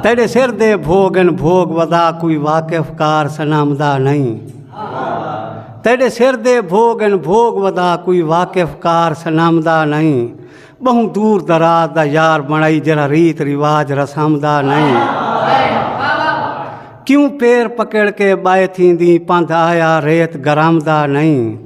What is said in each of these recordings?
تیڈے سر دے بھوگ ان بھوگ ودا کوئی واقف کار سنام دا نہیں تیڈے سر دے بھوگ ان بھوگ ودا کوئی واقف کار سنام دا نہیں بہوں دور دراز دا یار بنائی جرا ریت رواج رسام دا نہیں کیوں پیر پکڑ کے بائے تھی دی پند آیا ریت گرام دا نہیں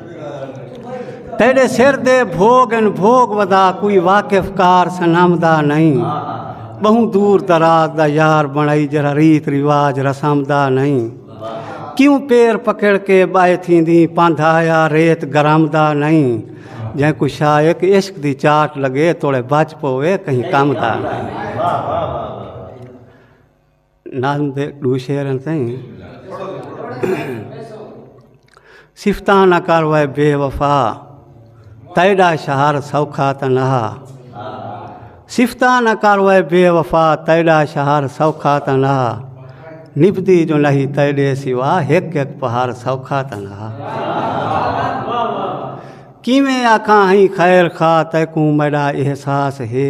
تیڈے سر دے بھوگ ان بھوگ ودا کوئی واقف کار سنم دا نہیں بہوں دور دراز دا یار بنائی جرا ریت رواج رسم دا نہیں کیوں پیر پکڑ کے بائے تھی دی پاندھا یا ریت گرم دا نہیں جائیں کوئی شایق عشق دی چاٹ لگے توڑے بچ پوے کہیں کم دا نہیں نظم دے ڈو شعر ہیں سائیں صفتاں نہ کر وے بے وفا تیڈا شہر سوکھا تے نہ صفتاں نہ کر وے بے وفا تیڈا شہر سوکھا تے نہ نبدی جو نہیں تیڈے سوا ہک ہک پہاڑ سوکھا تے نہ کیویں آکھاں ہی خیر خواہ تیکوں میڈا احساس ہے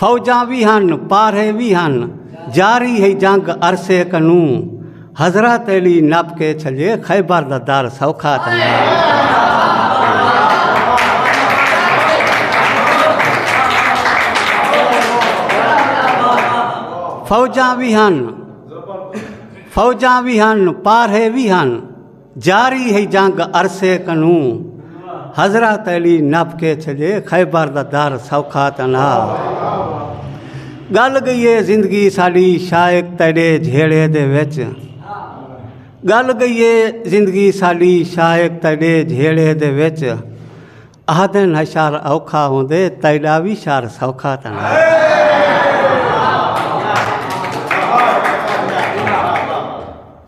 فوجاں وی ہن پارھے وی ہن جاری ہئی جنگ عرصے کنوں حضرت علی نپ کے چھلے خیبر دا در سوکھا تنگا فوجاں وی ہن فوجاں وی ہن پارھے وی ہن جاری ہئی جنگ عرصے کنوں حضرت علی نپ کے چھجے خیبر دا در سوکھا تنا گل گئی ہے زندگی ساڈی شائق تیرے جھیڑے دے وچ گل گئی ہے زندگی ساڈی شائق تیرے جھیڑے دے وچ آہدن ہشار اوکھا ہوندے تیڈا وی شار سوکھا تاں نہ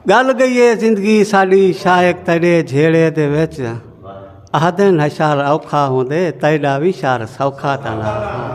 گل گئی ہے زندگی ساڈی شائق تیڈے جھیڑے دے وچ آہدن ہشار اوکھا ہوندے تیڈا وی شار سوکھا تاں نہ